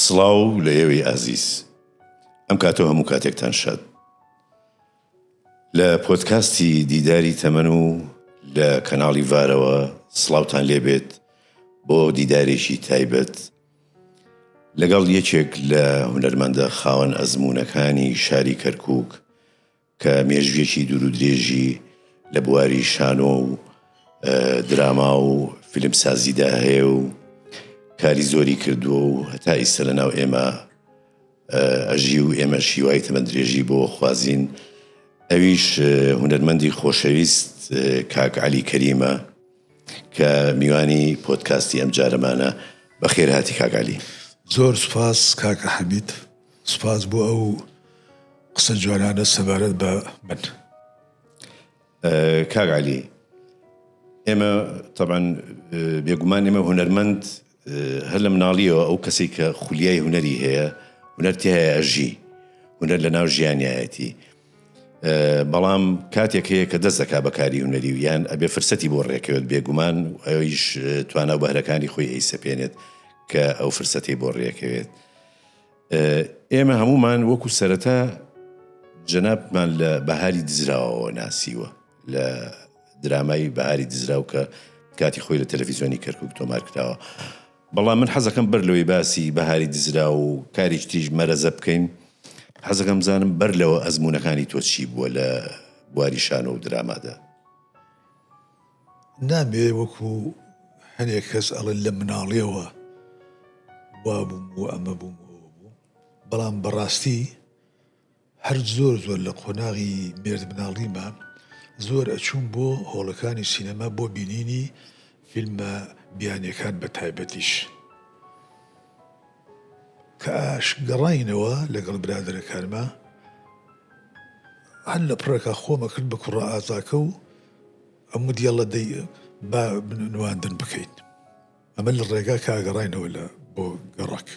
سڵاو لە ئێوەی ئازیز ئەم کاتۆ هەموو کاتێکتان شاد لە پۆتکاستی دیداری تەمەن و لە کەناڵی ڤارەوە سڵاوتان لێبێت بۆ دیدارێکی تایبەت لەگەڵ یەکێک لە هونەرمەندە خاوەن ئەزمونونەکانی شاری کەرکک کە مێژوویەکی دوورودرێژی لە بواری شانۆ و دراما و فیلمسازیدا هەیە و کاری زۆری کردووە و هەتا ئیسە لە ناو ئێمە ئەژی و ئێمە شیوای تەمە درێژی بۆ خوازین ئەویش هونەرمەندی خۆشەویست کاک علی کەریمە کە میوانی پۆتکاستی ئەم جارەمانە بەخێر هاتی کاگالی زۆر سپاس کاکە حەمید سپاس بۆ ئەو قسە جوانانە سەبارەت بە من. کاک علی ئێمە طبعا بێگومان ئێمە هونەرمەند هەر لە مناڵیەوە ئەو کەسی کە خولیای هونەری هەیە هونەر تێ هەیە ئەژی هونەر لە ناو ژیانایەتی بەڵام کاتێک هەیە کە دەست دەکا بەکاری هونەری و یان ئەبێ فرسەتی بۆ ڕێکەوێت بێگومان ئەویش توانا بەهرەکانی خۆی ئەی سەپێنێت کە ئەو فرسەتی بۆ ڕێکەوێت ئێمە هەموومان وەکو سەرەتا جەنابمان لە بەهاری دزراوەوە ناسیوە لە درامای بەهاری دزراو کە کاتی خۆی لە تەلەڤیزیۆنی کەرکک تۆمار کراوە بەڵام من حەزەکەم بەر لەوەی باسی بەهاری دزرا و کاریش تریش مەرەزە بکەین حەزەکەم زانم بەر لەوە ئەزمونونەکانی تۆ چی بووە لە بواری شانۆ و درامادا نابێ وەکو هەنێک کەس ئەڵێن لە مناڵیەوە وابووم و ئەمە بووم ئەوە بووم بەڵام بەڕاستی هەر زۆر زۆر لە قۆناغی مێرد مناڵیمە زۆر ئەچووم بۆ هۆڵەکانی سینەما بۆ بینینی فیلمە بیانیەکان بە تایبەتیش کە ئاش گەڕاینەوە لەگەڵ برادەرەکانما هەر لە پڕێکا خۆمەکرد بە کوڕە ئازاکە و ئەمو دیێڵە دەی با نواندن بکەیت ئەمە لە ڕێگا کە ئاگەڕاینەوە لە بۆ گەڕک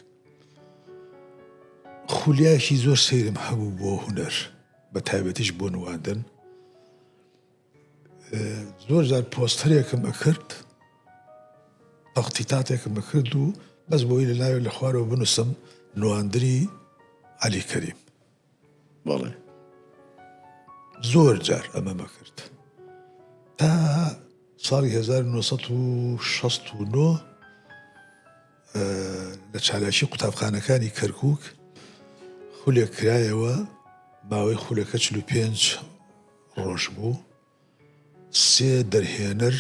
خولیاکی زۆر سەیرم هەبوو بۆ هوەر بە تایبەتیش بۆ نواندن زۆر جار پۆستەرێکم ئەکرد تەقتیتاتێکم بکرد و بەس بۆی لە ناوێت لە خوارەوە بنووسم نواندری علی کەریم بەڵێ زۆر جار ئەمە مەکرد تا ساڵی 1969 لە چالاکی قوتابخانەکانی کەرکک خولێک کرایەوە باوەی خولەکە 45 ڕۆژ بوو سێ دەرهێنەر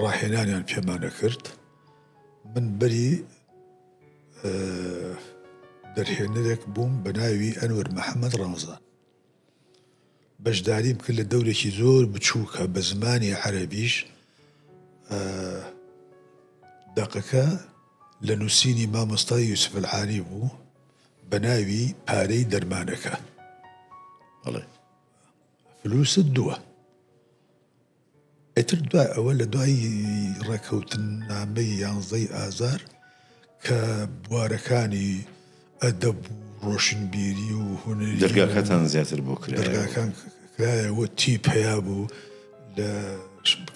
ڕاهێنانیان پێمان ئەکرد من بەری دەرهێنەرێک بووم بە ناوی ئەنوەر محەممەد ڕەمەزان بەشداریم کرد لە دەورێکی زۆر بچووکە بە زمانی عەربیش دەقەکە لە نووسینی مامۆستای یوسفلعالی بوو بە ناوی پارەی دەرمانەکە ئەڵێ فلوست دووە ئەتر دوای ئەوە لە دوای ڕێکەوتن نامەی یانزەی ئازار کە بوارەکانی ئەدەب و ڕۆشنبیری و هونەر دەرگاکەتان زیاتر بۆ کرێگاکان کرایەوە تی پیا بوو لە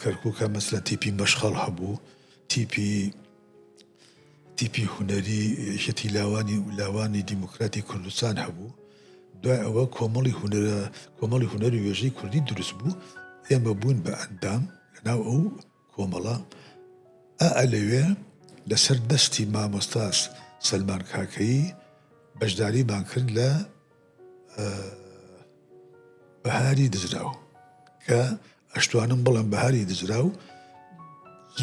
کەرکووکە مەسلە تیپی مەشخەڵ هەبوو تیپی تیپی هونەری یەکێتی لاوانی و لاوانی دیموکراتی کوردستان هەبوو دوای ئەوە کۆمەڵی هونەرە کۆمەڵی هونەری وێژەی کوردی دروست بوو ئێمە بوون بە ئەندام لەناو ئەو کۆمەڵە ئا لەوێ لەسەر دەستی مامۆستاس سەلمان کاکەیی بەشداریمان کرد لە بەهاری دزراو کە ئەشتوانم بڵم بەهاری دزراو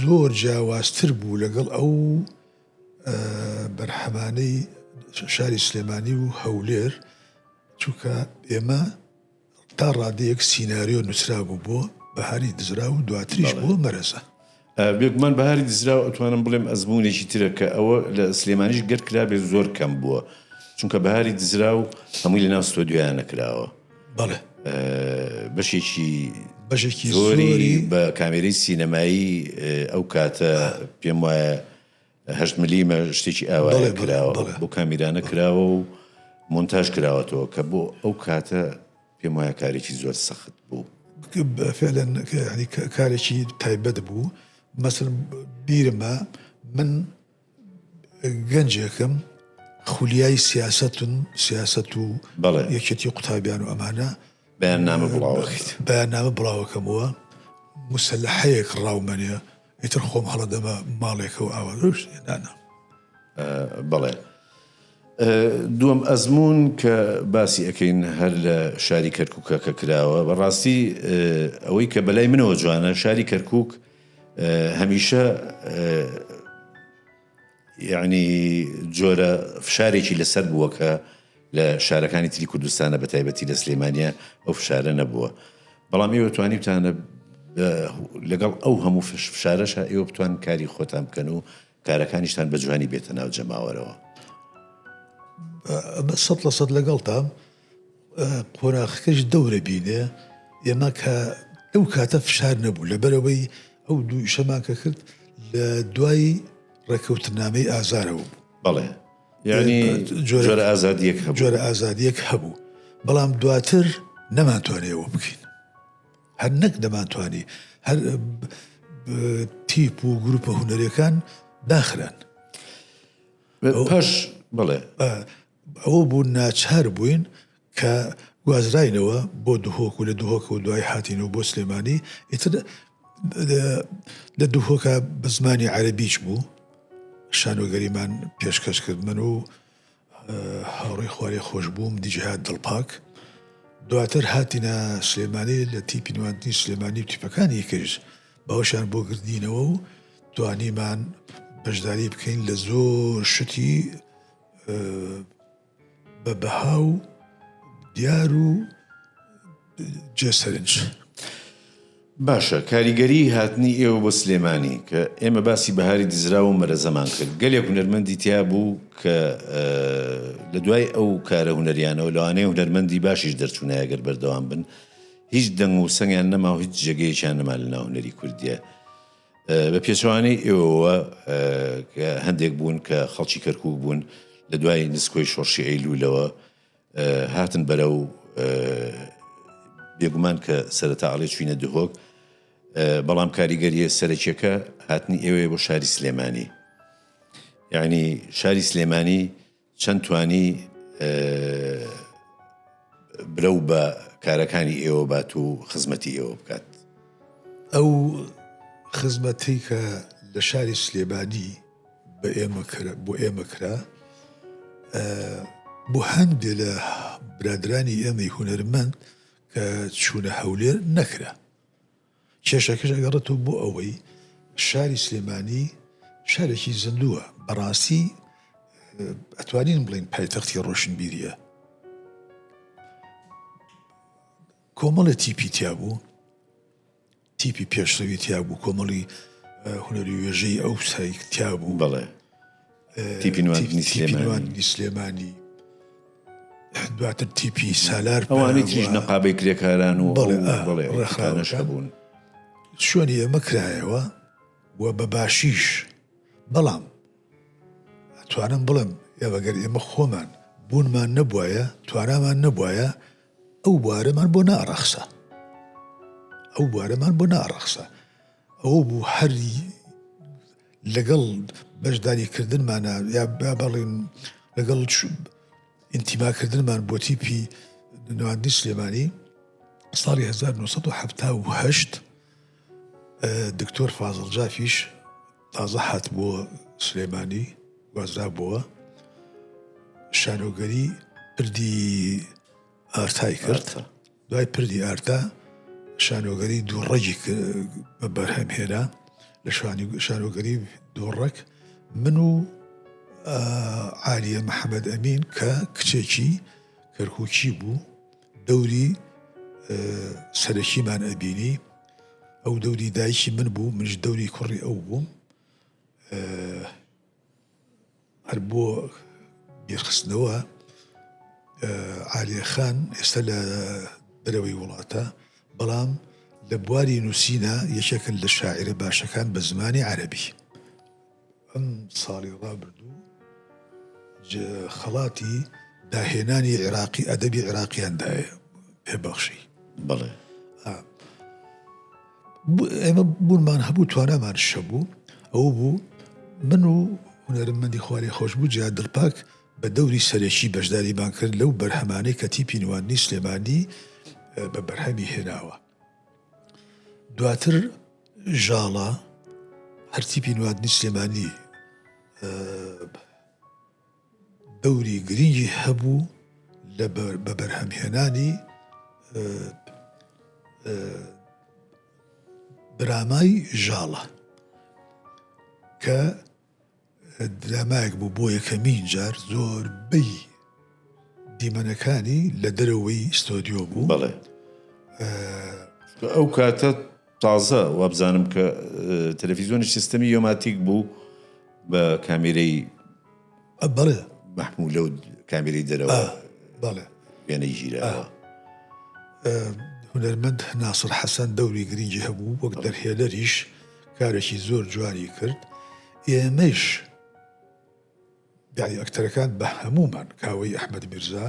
زۆر جیاوازتر بوو لەگەڵ ئەو بەرحەمانەی شاری سلێمانی و هەولێر چونکە ئێمە تا ڕادەیەک سینناریۆ نووسرا بوو بۆ بەهاری دزرا و دواتریش بۆ مەرەزە بێگومان بەهاری دزراو ئەتوانم بڵێم ئەزموونێکی ترە کە ئەوە لە سلێمانیش گەر کرابێت زۆر کەم بووە چونکە بەهاری دزراو هەمووی لە ناو ستۆدیۆیان نەکراوە بەڵێ بەشێکی بەشێکی زۆری بە کامێری سینەمایی ئەو کاتە پێم وایە هەشت ملیمە شتێکی ئاوایە کراوە بۆ کامیرانە کراوە و مۆنتاژ کراوەتەوە کە بۆ ئەو کاتە پێم وایە کارێکی زۆر سەخت بوو فعلەن کارێکی تایبەت بوو مەسل بیرمە من گەنجێکم خولیای سیاستون سیاست و بەڵێ یەکێتی قوتابیان و ئەمانە بەیان نامە بڵاوەکەیت بەیان نامە بڵاوەکەمەوە مسلحەیەک ڕاومەنێ ئیتر خۆم هەڵەدەبە ماڵێکەوە ئاوا دۆشت دانا بەڵێ دووەم ئەزمون کە باسی ئەەکەین هەر لە شاری کەرککە کە کراوە بەڕاستی ئەوەی کە بەلای منەوە جوانە شاری کەرکک هەمیشە یەعنی جۆرە فشارێکی لەسەر بووە کە لە شارەکانی تری کوردستانە بە تایبەتی لە سلێمانە ئەو فشارە نەبووە بەڵام ئێوە توانیتانە لەگەڵ ئەو هەموو فشارەشە ئێوە بتوان کاری خۆتان بکەن و کارەکانیشتان بە جوانی بێتە ناو جەماوەرەوە بە سە لە سەد لەگەڵ تام قۆناخەکەش دەورە بینێ ئێمە کە ئەو کاتە فشار نەبوو لەبەرەوەی ئەو دوو شەمان کە کرد لە دوای ڕێککەوتنامەی ئازارەوە بوو بەڵێ یعنی جۆرە ئازادیەک جۆرە ئازادیەک هەبوو بەڵام دواتر نەمانتوانێەوە بکەین هەر نەک دەمانتوانی هەر تیپ و گروپە هوەرەکان داخران پاش بڵێ ئەوە بوو ناچار بووین کە گوازراینەوە بۆ دهۆک و لە دهۆکەوە دوای هاتینەوە بۆ سلێمانی ئیتر لە دهۆکە بە زمانی عەرەبیش بوو شانۆگەریمان پێشکەش کرد من و هاوڕێ خوارێ خۆش بووم دیجهات دڵپاک دواتر هاتینە سلێمانی لە تیپی نواندنی سلێمانی و تیپەکانی کرد بەوشان بۆ گردینەوە و توانیمان بەشداری بکەین لە زۆر شتی بە بەها و دیار و جێ سەرنج. باشە کاریگەری هاتنی ئێوە بۆ سلێمانی کە ئێمە باسی بەهاری دزراوە و مەرەزەمان کرد گەلێک هونەرمەندی تیا بوو کە لە دوای ئەو کارە هونەریانەوە لەوانەیە هونەرمەندی باشیش دەرچوونایەگەر بەردەوام بن هیچ دەنگ و سەنگیان نەما و هیچ جێگەیەکیان نەما لە ناوهونەری کوردیە بە پێچەوانەی ئێوەوە کە هەندێک بوون کە خەڵکی کەرکک بوون لە دوای نسکۆی شۆڕشی ئەیلولەوە هاتن بەرە و بێگومان کە سەرەتا ئەڵێ چوینە دهۆک بەڵام کاریگەریە سەرەکیەکە هاتنی ئێوەیە بۆ شاری سلێمانی یعنی شاری سلێمانی چەند توانی برەو بە کارەکانی ئێوە بات و خزمەتی ئێوە بکات ئەو خزمەتی کە لە شاری سلێبادی بە ئێمە بۆ ئێمە کرا بۆ هەندێ لە برادرانی ئێمەی هوەرمەند کە چوونە هەولێر نەکرا کێشەکەش ئەگەڕێتەوە بۆ ئەوەی شاری سلێمانی شارێکی زیندووە بەڕاستی ئەتوانین بڵین پایتەختی ڕۆشنبیریە کۆمەڵە تیپی تیا بوو تیپی پێشڕەوی تیا بوو کۆمەڵی هونەری وێژەی ئەو سایکتیا بوو بڵێ تیپی نواندنی سلێمانی دواتر تیپی سالار ئەوانی تریش نەقابەی کرێکاران و ڕێخانەش بوون شوێنی ئێمە کرایەوە و بە باشیش بەڵام توانم بڵم ئێوەگەر ئێمە خۆمان بوونمان نەبواە توانامان نەبواە ئەو بوارەمان بۆ ناڕەخسە ئەو بوارەمان بۆ ناڕەخسە ئەو بوو هەری لەگەڵ بەشداری کردنمانە یا با بەڵێن لەگەڵ ئینتیماکردنمان بۆ تیپی نواندنی سلێمانی ساڵی 1970 دکتۆر فازڵ جافیش تازە هات بۆ سلێمانی وازرابەوە شانۆگەری پردی ئارتای کرد دوای پردی ئارتا شانۆگەری دوو ڕەگی بە بەرهەم هێنا لە شانۆگەری دۆڕەک من و عالیە محەممەد ئەمین کە کچێکی کەرکوچی بوو دەوری سەرەکیمان ئەبینی ئەو دەوری دایکی من بوو منش دەوری کوڕی ئەو بووم هەر بۆ بیرخستنەوە عالیە خان ئێستا لە دەرەوەی وڵاتە بەڵام لە بواری نووسینە یەکێکن لە شاعرە باشەکان بە زمانی عەربی ئەم ساڵی ڕابردوو خەڵاتی داهێنانی عێراقی ئەدەبی عێراقییاندایە پێبەخشی بڵێ ئێمە بوونمان هەبوو توانامان شەبوو ئەوە بوو من و هونەرمەندی خوارێ خۆشببوو جیا دڵپاک بە دەوری سەرەکی بەشداریمان کرد لەو بەرهەمانەی کە تیپی نواندنی سلێمانی بە بەرهەمی هێناوە دواتر ژاڵە هەرتیپی نواندنی سلێمانی دەوری گرنگی هەبوو لە بەبەرهەمهێنانی درامای ژاڵە کە درامایەک بوو بۆ یەکەمین جار زۆر بی دیمەنەکانی لە دەرەوەی ستۆدیۆ بوو بەڵێ ئەو کاتە تازە وابزانم کە تەلەفیزۆنیش سیستەمی یۆماتیک بوو بە کامیرەی بەڵێ مەحمولە و کامیری دەرەوە بەڵێ وێنەی ژیرەوە هونەرمەند ناسر حەسەن دەوری گرنگی هەبوو وەک دەرهێنەریش کارێکی زۆر جوانی کرد ئێمەش داری ئەکتەرەکان بە هەمومان کاوەی ئەحمد میرزا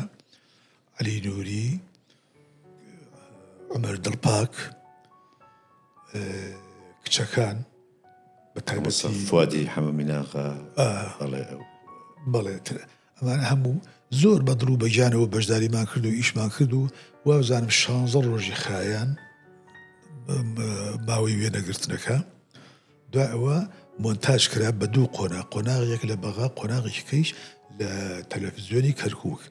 عەلی نوری، عومەر دڵپاک، کچەکان فوادی حەمە میناغا بەڵێ ئەمان هەموو زۆر بەدڵ و بەگیانەوە بەشداریمان کرد و ئیشمان کرد و وابزانم شانزە ڕۆژی خایەن باوەی وێنەگرتنەکە دوای ئەوە مۆنتاژ کرا بە دوو قۆناغ، قۆناغێک لە بەغا، قۆناغێکیکەیش لە تەلەفزیۆنی کەرکووک.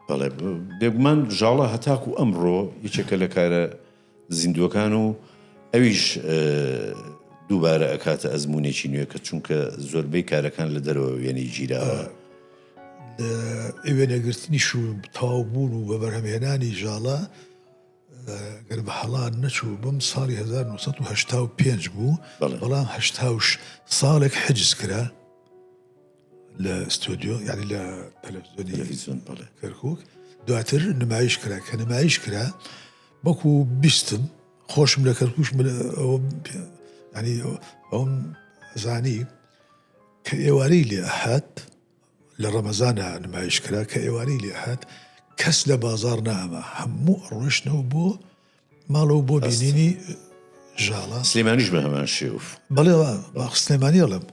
بەڵێ بێگومان ژاڵە هەتاکو ئەمڕۆ یەکێکە لە کارە زیندووەکان و ئەویش دووبارە ئەکاتە ئەزمونێکی نوێ کە چونکە زۆربەی کارەکان لە دەرەوە وێنەی گیراوە. ئەوێ نەگرتنیش و تاو بوون و بە بەرهەمهێنانی ژاڵە گەر بە هەڵات نەچوو بم ساڵی 1970 بوو بەڵام هەشتاش ساڵێک حجز کرا لە ستۆدیۆ یاری لە تەلەڤزیۆن کەرکک دواتر نمایش کرا کە نمایش کرا بەکو بیستم خۆشم لە کەرکوش ئەوم زانی کە ئێوارەی لێ هات لە ڕەمەزانا نمایش کرا کە ئێوارەی لێ هات کەس لە بازار ناما هەموو ئەڕۆشتنەوە بۆ ماڵەوە بۆ بینینی ژاڵە سلێمانیش بە هەمان شێوف بەڵێ سلێمانی ئەڵم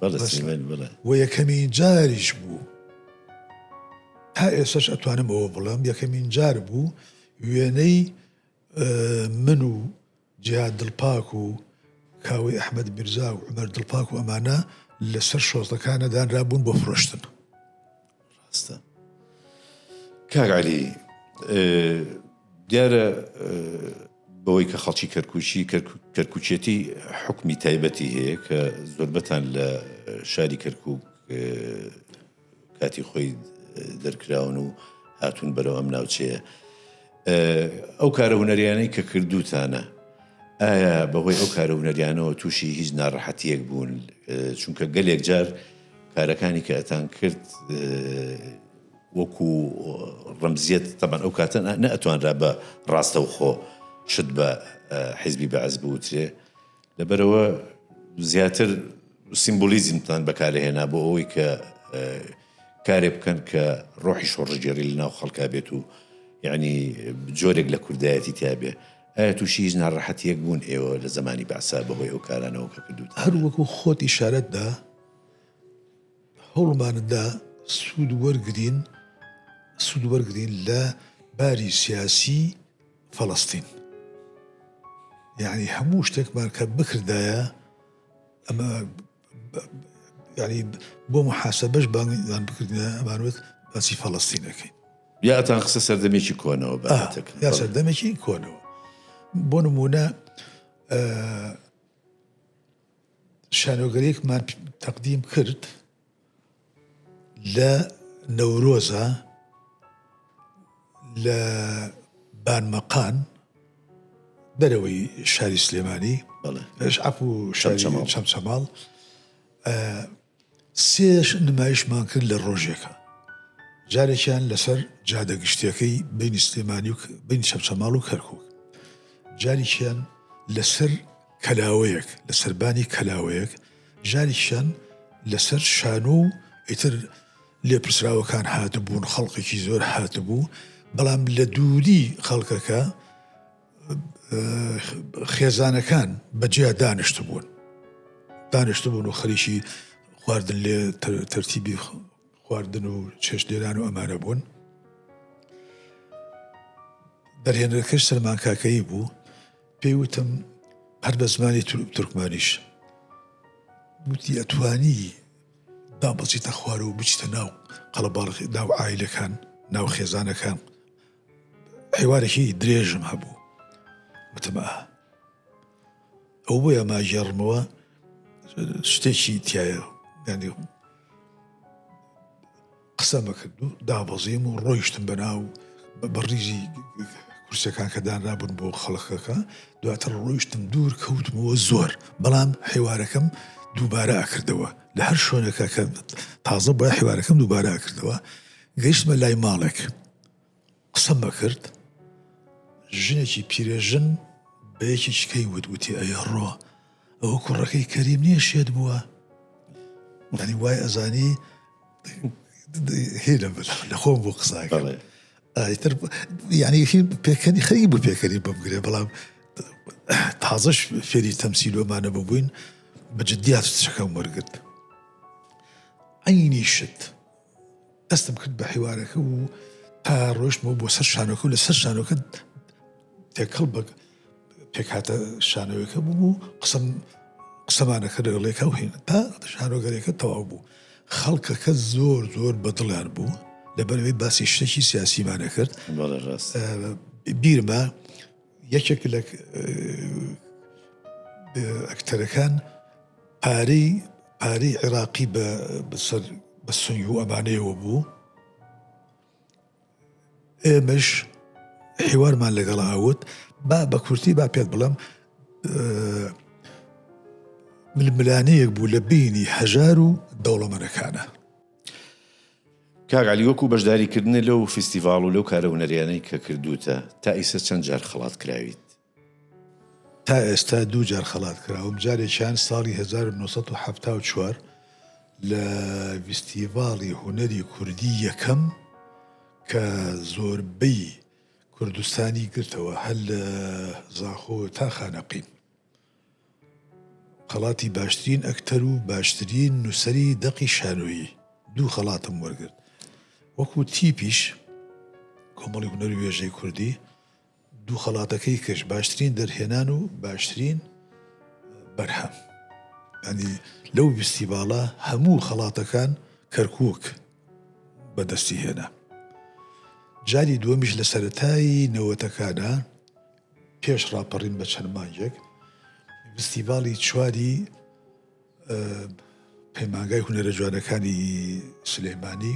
و یەکەمین جاریش بوو تا ئێسش ئەتوانم ئەوە بڵم یەکەمین جار بوو وێنەی من و جیهاد دڵپاک و کاوەی ئەحمەد میرزا و عومەر دڵپاک و ئەمانە لەسەر شۆڕتەکانە دانرابوون بۆ فرۆشتن ڕاستە کاک علی دیارە بەوەی کە خەڵکی کەرکوچی کەرکوچێتی حکمی تایبەتی هەیە کە زۆربەتان لە شاری کەرکک کاتی خۆی دەرکراون و هاتوون بەرەو ئەم ناوچەیە ئەو کارە هوەریانەی کە کردوتانە ئایا بەهۆی ئەو کارە هوەریانەوە تووشی هیچ ناڕەحەتیەک بوون چونکە گەلێک جار کارەکانی کە ئەتان کرد وەکو ڕمزیەت تەبەن ئەو کاتە نەتوانرا بە ڕاستەوخۆ شت بە حیزبی بەعز بوترێ لەبەرئەوە زیاتر سیمبولیزمتان بەکارهێنا بۆ ئەوەی کە کارێ بکەن کە ڕۆحی شۆڕژگێری لە ناو خەڵکا بێت و یعنی جۆرێک لە کوردایەتی تابێ ئایا تووشی هیچ ناڕەحەتیەک بوون ئێوە لە زمانی بەعسا بەهۆی ئەو کارانەوە کە کردوت هەر وەکو خۆت ئیشارەتدا هەوڵماندا سوود وەرگین سوود وەرگین لە باری سیاسی فەڵەستین یانی هەموو شتێکمان کە بکردایە ئەمە یعنی بۆ محاسبەش بانگیان بکردە ئەمانوت باسی فەڵستینەکەی یاتان قسە سەردەمێکی کۆنەوە یا سەردەمێکی کۆنەوە بۆ نمونە شانۆگەرێکمان تەقدیم کرد لە نەورۆزا لە بانمەقان دەرەوەی شاری سلێمانی عفو چەمچەماڵ سێش نمایشمان کرد لە ڕۆژێکە جارێکیان لەسەر جادە گشتیەکەی بینی سلێمانی و بین چەمچەماڵ و کەرکک جاریشیان لەسەر کەلاوەیەک لە سەربانی کەلاوەیەک ژانێکیشان لەسەر شانۆ و ئیتر لێپرسراوەکان هاتبوون خەڵکێکی زۆر هاتبوو بەڵام لە دووری خەڵکەکە خێزانەکان بەجیا دانیشت بوون دانیشت بوون و خەریکی خواردن لێ تەرتیبی خواردن و چێشتێران و ئەمانە بوون دەرهێنەرەکەش سەرمانکاکەی بوو پێی وتم هەر بە زمانی تورکمانیش وتی ئەتوانی با بەچیتە خوار و بچیتە ناو قەڵەباڵ ناو ئایلەکان ناو خێزانەکان حیوارێکی درێژم هەبوو وتمە ئەو بۆیە ماژێڕمەوە شتێکی تایە ینی قسەمە کرد و دابەزیم و ڕۆیشتم بەناو بەڕیزی کورسەکان کە دانرابوون بۆ خەڵکەکە دواتر ڕۆیشتم دوور کەوتمەوە زۆر بەڵام حیوارەکەم دووبارە ئاکردەوە لە هەر شوێنەکە کە تازە بە حیوارەکەم دووبارە ئاکردەوە گەیشتمە لای ماڵێک قسەم ئەکرد ژنێکی پیرێژن بە یەکێکیکەی وت وتی ئەیڕۆ ئەوە کوڕەکەی کەریم نییە شێت بووە دانی وای ئەزانی هێلە لە خۆم بۆ قساکە ئایتر یعنی پێکەنی خەری بوو پێکەری بمگرێ بەڵام تازەش فێری تەمسیلۆمانە ببووین بە جددیات شەکەم وەرگرت عینی شت دەستم کرد بە حیوارەکە و تا ڕۆشتمەوە بۆ سەر شانۆکە و لە سەر شانۆکە تێکەڵ بە پێکاتە شانەوەەکە بووم و قسم قسەمانەکە لەگەڵێکە و هێن تا شانۆگەرێکە تەواو بوو خەڵکەکە زۆر زۆر بەدڵیان بوو لەبەرەوەی باسی شتێکی سیاسیمانە کرد بیرمە یەکێک لە ئەکتەرەکان پارەی پارەی عێراقی بە سەر بە سنگ و ئەمانەیەوە بوو ئێمەش حیوارمان لەگەڵ هاوت با بە کورتی با پێت بڵم ململانەیەک بوو لە بینی هەژار و دەوڵەمەنەکانە کاگالی وەکو بەشداریکردنە لەو فیستیڤاڵ و لەو کارە هونەریانەی کە کردوتە تا ئیسە چەند جار خڵات کراویت تا ئێستا دوو جار خەڵات کراوم، جارێکیان ساڵی هەزار و نۆ سەد و حەفتا و چوار لە ڤیستیڤاڵی هونەری کوردی یەکەم کە زۆربەی کوردستانی گرتەوە هەر لە زاخۆ تا خانەقین. خەڵاتی باشترین ئەکتەر و باشترین نووسەری دەقی شانۆیی دوو خەڵاتم وەرگرت وەکوو تیپیش کۆمەڵی هونەر و وێژەی کوردی دوو خەڵاتەکەی کچ باشترین دەرهێنان و باشترین بەرهەم ینی لەو ویستی باڵە هەموو خەڵاتەکان کەرکک بەدەستی هێنا جاری دووەمیش لە سەتایی نەوەتەکانە پێش ڕاپەڕین بە چەند مانگێک فستیڤاڵی چواری پەیمانگای هونەرە جوانەکانی سلەیمانی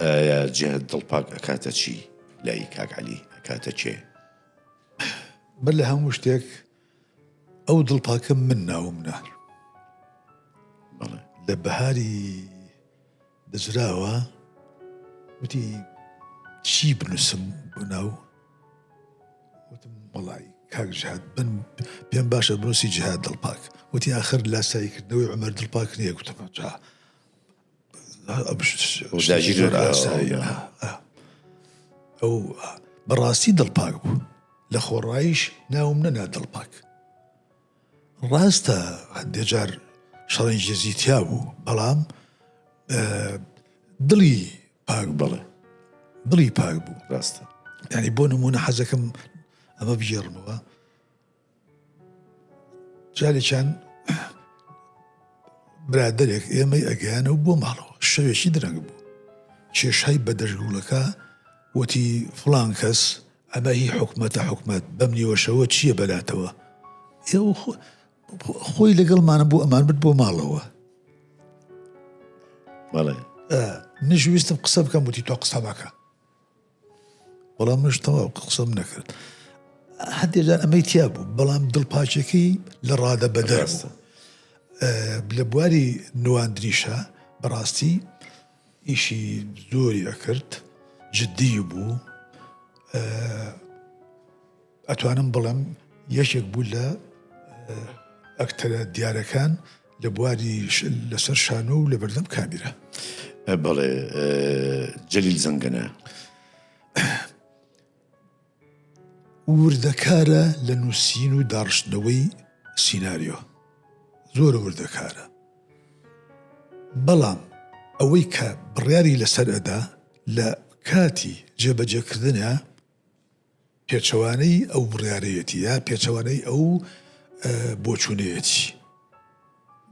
ئایا جەهت دڵ پاک ئەکاتە چی لای کاک عەلی ئەکاتە کێ؟ من لە هەموو شتێک ئەو دڵ پاکە من ناوم نار لە بەهاری بزراوە وتی چی بنووسم بۆ ناو وتم بەڵی کاک جهاد بن پێم باشە بنووسی جهاد دڵپاک وتی آخر لاساییکردنەوەی عمر دڵپاک نیە گوتم جا ئەو بەڕاستی دڵپاک بوو لە خۆڕایش ناوم نەنا دڵپاک ڕاستە هەندێجار شەڕی جێزیتیا بوو بەڵام دڵی پاک بڵێ دڵی پاک بوو ڕاستە ینی بۆ نمونە حەزەکەم ئەمە بژێڕمەوە جارێکیان برادێک ئێمەی ئەگەیانە و بۆ ماڵەوە شەوێکی درەنگ بوو کێشای بە دەشگوڵەکە وتی فلان کەس ئەمە هی حکومەتە حکومت بەم نیوەشەوە چییە بەلاتەوە ئێوە خۆی لەگەڵمانە بۆ ئەمان بت بۆ ماڵەوە بەڵێ نشویستم قسە بکەم وتی تۆ قسە بکە وەڵا منش تەواو قسەم نەکرد هەندێک جار ئەمەی تیا بوو بەڵام دڵپاچەکەی لە ڕادە بەدەر بوو. لە بواری نواندنیشە بەڕاستی ئیشی زۆری ئەکرد جددی بوو ئەتوانم بڵێم یەکێک بوو لە ئەکتەرە دیارەکان لە بواری لەسەر شانۆ و لە بەردەم کامیرە بەڵێ جەلیل زەنگەنە وردەکارە لە نووسین و داڕشتنەوەی سینناریۆ زۆر وردەکارە بەڵام ئەوەی کە بڕیاری لەسەر ئەدا لە کاتی جێبەجێکردنە پێچەوانەی ئەو بڕیارەیەتی یا پێچەوانەی ئەو بۆچوونەیەتی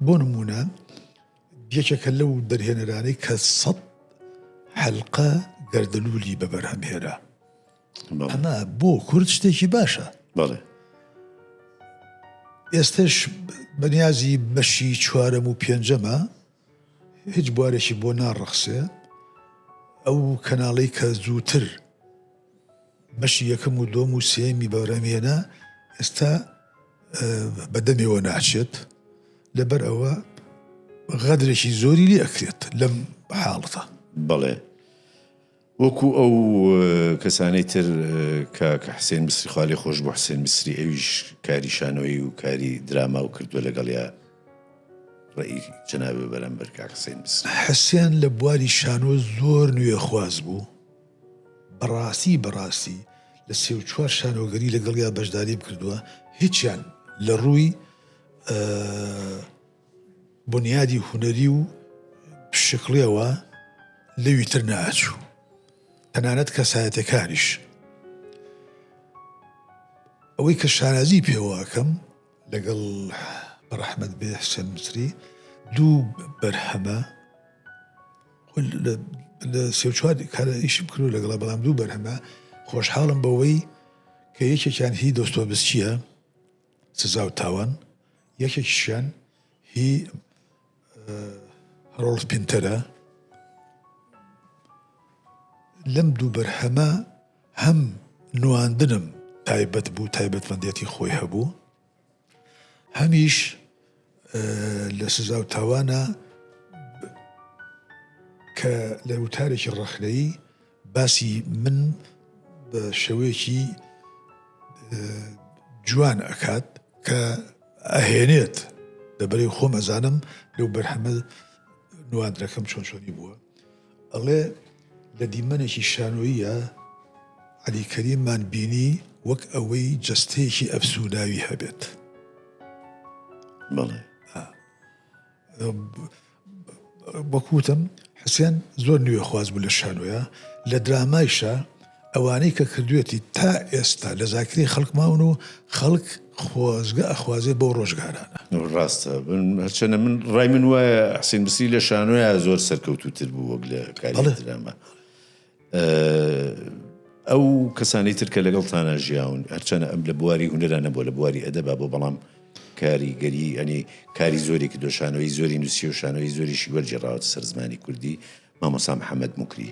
بۆ نمونە یەکێکە لەو دەرهێنەرانەی کە سەد حەلقە گەردەلولی بە بەرهەم هێرا ئەمە بۆ کورد شتێکی باشە بەڵێ ئێستش بەنیازی بەشی چوارەم و پێنجەمە هیچ بوارێکی بۆ ناڕەخسێ ئەو کەناڵەی کە زووتر بەشی یەکەم و دۆم و سێمی بەرامێنە ئێستا بەدەمێەوە ناچێت لەبەر ئەوە غەدرێکی زۆری لێ ئەکرێت لەم حاڵتە بڵێ وەکو ئەو کەسانەی تر کاک حسێن میسری خوالێ خۆش بوو حسێن میسری ئەویش کاری شانۆیی و کاری دراماو کردوە لەگەڵیا ڕێی جەنابی بەرم بەر کاک حسێن میسری. حسێن لە بواری شانۆ زۆر نوێ خواز بوو بەڕاستی بەڕاستی لە سێ و چوار شانۆگەری لەگەڵیا بەشداریم کردوە هیچیان لە ڕووی بونیادی هونەری و پشکڵیەوە لەوی تر نەئەچوو تەنانەت کەسایەتەکانیش ئەوەی کە شانازی پێوەکەم لەگەڵ ڕەحمد بێ حسێن مسری دوو بەرهەمە لە سێ چوار کارە ئیشم کرد لەگەڵا بەڵام دوو بەرهەمە خۆشحاڵم بەوەی کە یەکێکیان هی دۆستۆبسچیە سزا و تاوان یەکێکیشیان هی هەرۆڵف پینتەرە لەم دوو بەرهەمە هەم نواندنم تایبەت بوو تایبەتمەندێتی خۆی هەبوو هەمیش لە سزا و تاوانە کە لە وتارێکی ڕەخنەیی باسی من بە شێوەیەکی جوان ئەکات کە ئەهێنێت لەبەری خۆم ئەزانم لەو بەرهەمە نواندنەکەم چۆن چۆنی بووە ئەڵێ لە دیمەنێکی شانۆییە عەلی کەریممان بینی وەک ئەوەی جەستەیەکی ئەفسووداوی هەبێت بڵێ بەکوتم حسێن زۆر نوێخواز بوو لە شانۆە لە درامایشە ئەوانەی کە کردوێتی تا ئێستا لە زاکرەی خەڵک ماون و خەڵک خۆزگە ئەخوازێ بەو ڕۆژگارانە. ڕاستە هەرچەنە من ڕای من وایە حسین مسری لە شانۆیە زۆر سەرکەوتوتر بوو وەک لە کاری درامە ئەو کەسانی ترکە لەگەڵ تانا ژیاون هەرچەنە ئەم لە بواری هوەرە نەبووە لە بواری ئەدەبا بۆ بەڵام کاری گەری ئەنی کاری زۆرێکی دۆشانەوەی زۆری نووسی و شانەوەی زۆریشی وەرجێڕاوەتە سەر زمانی کوردی مامۆستا محەمەد موکری.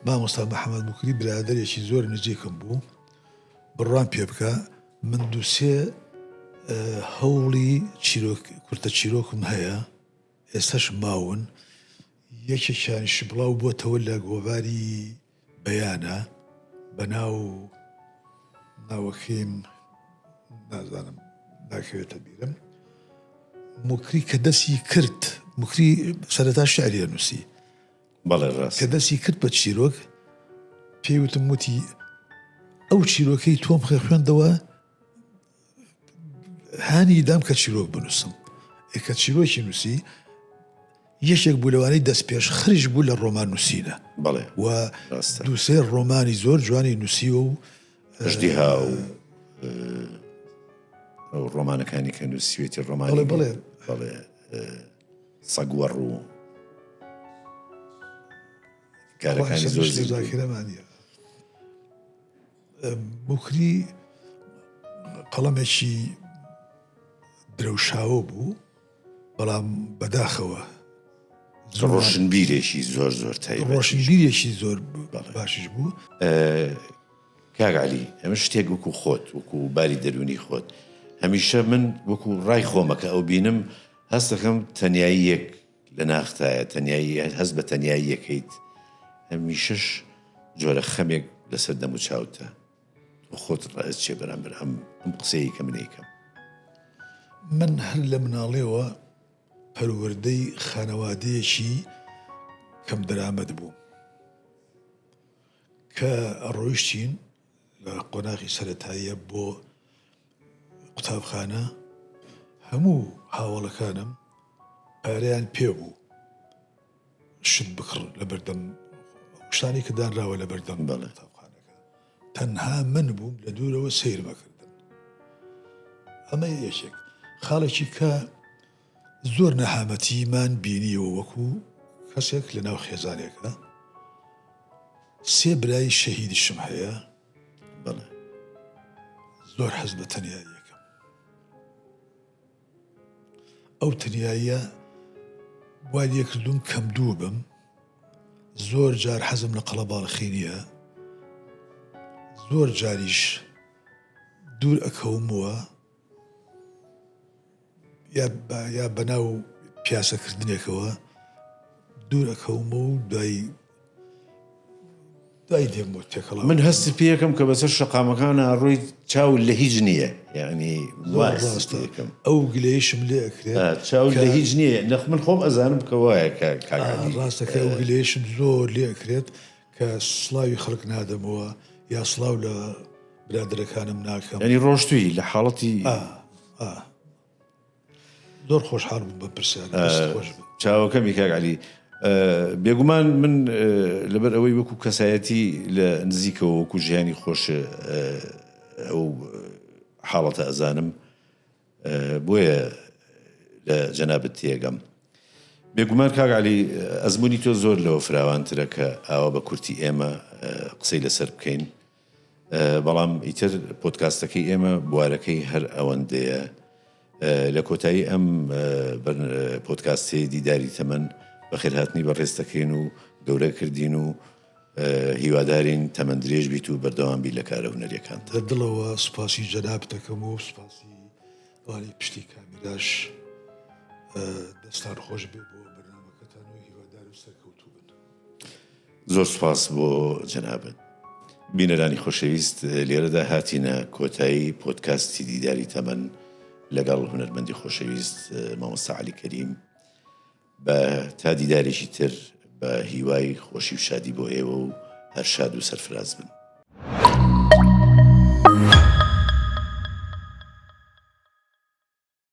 مامۆستا محەمەد موکری برادەرێکی زۆر نزیکم بوو، بڕوام پێ بکە من دوو سێ هەوڵی چیرۆک کورتە چیرۆکم هەیە ئێستاش ماون یەکێکیانیش بڵاو بۆتەوە لە گۆڤاری بیانە بە ناو ناوەکەیم نازانم ناکەوێتە بیرم مکری کە دەستی کرد مکری سەرتا شعریە نووسی بەڵێ ڕاست کە دەستی کرد بە چیرۆک پێوتم وتی ئەو چیرۆکەی تۆم خێ خوێندەوە هانی دام کە چیرۆک بنووسم ئێکە چیرۆکی نووسی یەکێک بوو لەوانەی دەست پێش خریش بوو لە ڕۆمان نووسینە بڵێ و دووسێ ڕۆمانی زۆر جوانی نووسیوە و ژدی ها و ئەو ڕۆمانەکانی کە نووسوێتی ڕۆمانی بڵێ بڵێ سەگوەڕ و کارەکانی زۆر زیرەمانە بوکری قەڵەمێکی درەوشاوە بوو بەڵام بەداخەوە ڕۆشنبیرێکی زۆر زۆر تای ڕۆشنبیرێکی زۆر باشش بوو کاگالی ئەمە شتێک وەکو خۆت وەکو باری دەرونی خۆت هەمیشە من وەکو ڕای خۆمەکە ئەو بینم هەستەکەم تەنایی یەک لە ناختایە تەنیایی هەست بە تەنیایی یەکەیت هەمیشەش جۆرە خەمێک لەسەر دەم و چاوتە تۆ خۆت ڕایەت چێ بەرامبەر ئەم ئەم قسەیە کە منێکم من هەر لە مناڵێەوە پەروەردەی خانەوادەیەکی کەم دەرامەت بوو کە ڕۆیشتین لە قۆناغی سەرەتاییە بۆ قوتابخانە هەموو هاوڵەکانم پارەیان پێ بوو شت بکڕ لە بەردەم شتانی کە دانراوە لە بەردەم بە لە قوتابخانەکە تەنها من بووم لە دوورەوە سیر بەکردن ئەمە یەکێک خاڵێکی کە زۆر نەهامەتیمان بینیەوە وەکو کەسێک لەناو خێزانێکە سێ برای شەهیدیشم هەیە بەڵێ زۆر حەز بە تەنیاییەکەم ئەو تەنیاییە وا لێکردوم کەم دوو بم زۆر جار حەزم لە قەڵە باڵخی نییە زۆر جاریش دوور ئەکەومەوە یا بەناو پیاسەکردنێکەوە دوورەکەوم و دوای دوای دێم بۆ تێکەڵ من هەستی پێەکەم کە بەسەر شەقامەکان ئاڕۆی چاو لە هیچ نییە یعنی ڕاستەکەم ئەو گلەیشم لێ ئەکرێت چاو لە هیچ نییە نەخ من خۆم ئەزانم کە وایە کە ڕاستەکە ئەو گلەیشم زۆر لێ ئەکرێت کە سڵاوی خەڵک نادەمەوە یا سڵاو لە برادەرەکانم ناکەم یعنی ڕۆشتوی لە حاڵەتی ئا ئا زۆر خۆشحاڵ بووم بە پرسیار دەست خۆش بێت. چاوەکەمی کاک علی بێگومان من لەبەر ئەوەی وەکو کەسایەتی لە نزیکەوە وەکو ژیانی خۆش ئەو حاڵەتە ئەزانم بۆیە لە جەنابت تێگەم. بێگومان کاک عەلی ئەزموونی تۆ زۆر لەوە فراوانترە کە ئاوا بە کورتی ئێمە قسەی لەسەر بکەین، بەڵام ئیتر پۆدکاستەکەی ئێمە بوارەکەی هەر ئەوەندەیە. لە کۆتایی ئەم پۆدکاستەی دیداری تەمەن بەخێرهاتنی بەڕێز دەکەین و گەورە کردین و هیوادارین تەمەن درێژ بیت و بەردەوام بیت لە کارە هونەریەکانت. لە دڵەوە سوپاسی جەنابت دەکەم و سوپاسی ئەوانەی پشتی کامیراش دەستان خۆش بێ بۆ بەرنامەکەتان و هیوادار و سەرکەوتوو بن. زۆر سوپاس بۆ جەنابت. بینەرانی خۆشەویست لێرەدا هاتینە کۆتایی پۆدکاستی دیداری تەمەن لەگەڵ هونەرمەندی خۆشەویست مامۆستا عەلی کەریم. بە تا دیدارێکی تر بە هیوای خۆشی و شادی بۆ ئێوە و هەر شاد و سەرفراز بن.